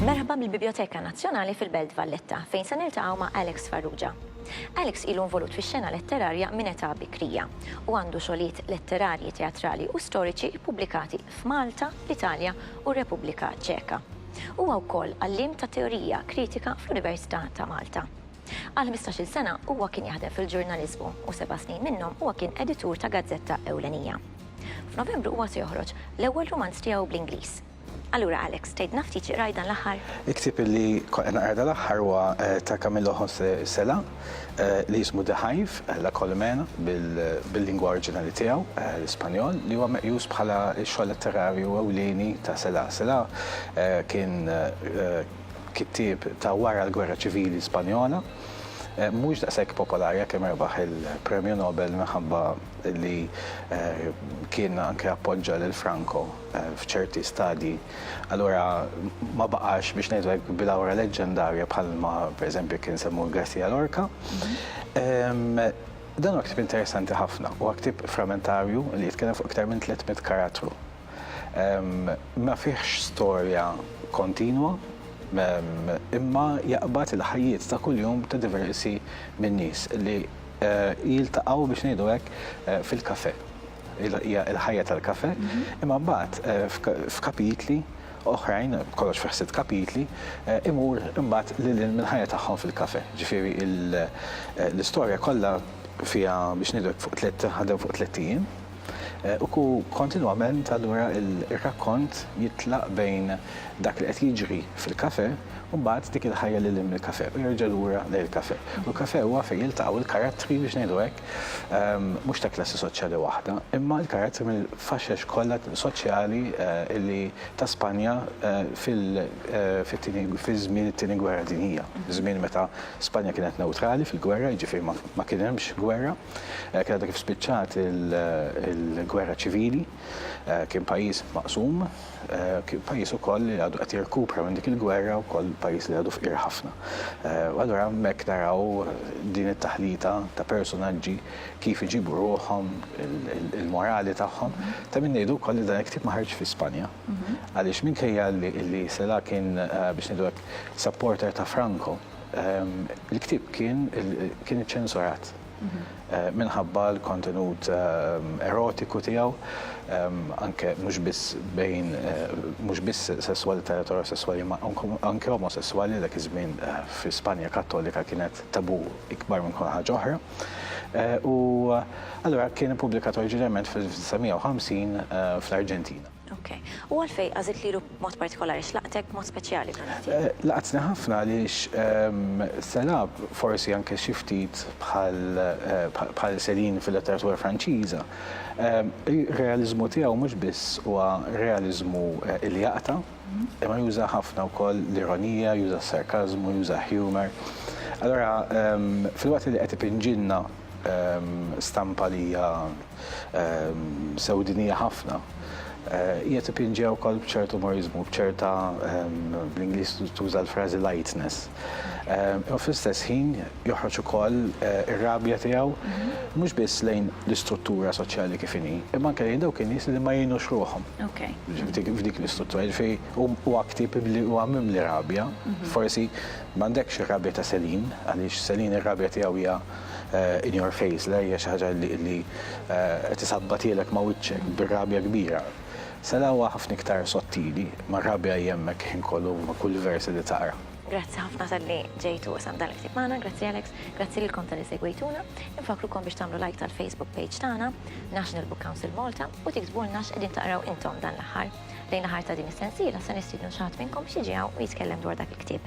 Merħba mill-Bibjoteka Nazzjonali fil-Belt Valletta, fejn se niltaqgħu ma' Alex Farrugia. Alex ilu involut fix-xena letterarja minn età bikrija u għandu xogħlijiet letterarji, teatrali u storiċi ppubblikati f'Malta, l-Italja u r-Repubblika Ċeka. Huwa wkoll għalliem ta' Teorija Kritika fl-Università ta' Malta. Għal ħmistax-il sena huwa kien jaħdem fil-ġurnaliżmu u seba' snin minnhom huwa kien editur ta' gazzetta ewlenija. F'Novembru huwa se joħroġ l-ewwel rumanz tiegħu bl-Ingliż. Allura Alex, tgħidlna ftit xi qrajt dan l-aħħar? Il-ktieb li kont qed naqra dan l-aħħar huwa ta' Camillo José Cela. li jismu The Hive, La Colmena bil-lingwa oriġinali tiegħu, l-Ispanjol, li huwa meqjus bħala x-xogħol letterarju ewlieni ta' Celaá. Celaá kien kittieb ta' wara l-Gwerra Ċivili Spanjola, mhux daqshekk popolari għalkemm rebaħ il-Premju Nobel minħabba li kien anke appoġġa lil Franco. f'ċerti stadji, allura ma baqax biex ngħidu hekk bilawra leġġendarja bħalma pereżempju kien semmu Garcia Lorca. Dan huwa ktieb interessanti ħafna, huwa ktieb frammentarju li jitkellem fuq iktar minn 300 karattru. Ma fihx storja kontinwa, imma jaqbad il-ħajjiet ta' kuljum ta' diversi min-nies li jiltaqgħu biex ngħidu hekk fil-kafè. hija l-ħajja tal-kafe, imma mbagħad f'kapitli oħrajn, kollox fi ħsitt kapitli, imur imbagħad lil hinn mill-ħajja tagħhom fil-kafe. Ġifieri l-istorja kollha fiha biex ngħidlek fuq tliet ħadem fuq tliet ijiem u kontinwament allura r-rakkont jitlaq bejn dak li qed jiġri fil-kafe u mbagħad dik il-ħajja lil hinn mill-kafe u jerġa' lura lejn il-kafe. U l-kafe huwa fejn jiltaqgħu l-karattri biex ngħidu hekk Mhux ta' klassi soċjali waħda, imma l-karozzi mill-faxex kollha soċjali li ta' Spanja fit-tieni fi żmien it-Tieni Gwerra Dinjija, żmien meta Spanja kienet newtrali fil-gwerra, jiġifieri ma kien hemmx gwerra, kien għadha kif spiċċat il-gwerra ċivili. Kien pajjiż maqsum, kien pajjiż ukoll li għadu qed jirkupra minn dik il-gwerra, ukoll pajjiż li għadu fqir ħafna. U allura hemmhekk naraw din it-taħlita ta' personaġġi kif iġibu ruħhom, il-morali tagħhom. Ta' min ngħidu wkoll li dan il-ktieb ma ħarġx fi Spanja. Għaliex minkejja li Celaá kien, biex ngħidu hekk, supporter ta' Franco, il-ktieb kien iċċensurat. minħabba l-kontenut erotiku tiegħu, anke mhux biss bejn mhux biss sesswalità eterosesswali imma anke omosesswali li dak iż-żmien fi Spanja Kattolika kienet tabù ikbar minn kull ħaġa oħra. U allura kien ippubblikat oriġinarjament fl-1950 fl-Arġentina. Ok. U għalfejn għażilt lilu b'mod partikolari? X'laqtek b'mod speċjali f'dan it-tim? Laqatni ħafna għaliex se lagħab forsi anke xi ftit bħal Céline fil-letteratura Franċiża. Ir-realiżmu tiegħu mhux biss huwa realiżmu li jaqta', imma juża ħafna wkoll l-ironija, juża s-sarkażmu, juża humor. Allura filwaqt li qed ipinġilna stampa li hija sewdinija ħafna, hija tipinġiha wkoll b'ċertu umoriżmu, b'ċerta, bl-Ingliż tuża l-frażi lightness. U fl-istess ħin joħroġ ukoll ir-rabja tiegħu mhux biss lejn l-istruttura soċjali kif inhi, imma anke lejn dawk in-nies li ma jgħinux ruħhom f'dik l-istruttura. Jiġifieri huwa ktieb li huwa mimli rabja, forsi m'għandekx ir-rabja ta' Céline, għaliex Céline ir-rabja tiegħu hija in your face, le hija xi ħaġa li qed isabbatilek ma' wiċċek bir-rabja kbira. Sela huwa ħafna iktar sottili, mar-rabja hi hemmhekk il-ħin kollu ma' kull versi li taqra. Grazzi ħafna talli ġejt u qsamt dan il-ktieb magħna, grazzi Alex, grazzi lilkom talli segwejtuna. Infakkrukom biex tagħmlu like tal-Facebook page tagħna, National Book Council Malta, u tiktbulna x'qegħdin taqraw intom dan l-aħħar. Lejn l-aħħar ta' din is-sensiela se nistiednu xi ħadd minnkom biex jiġi hawn u jitkellem dwar dak il-ktieb.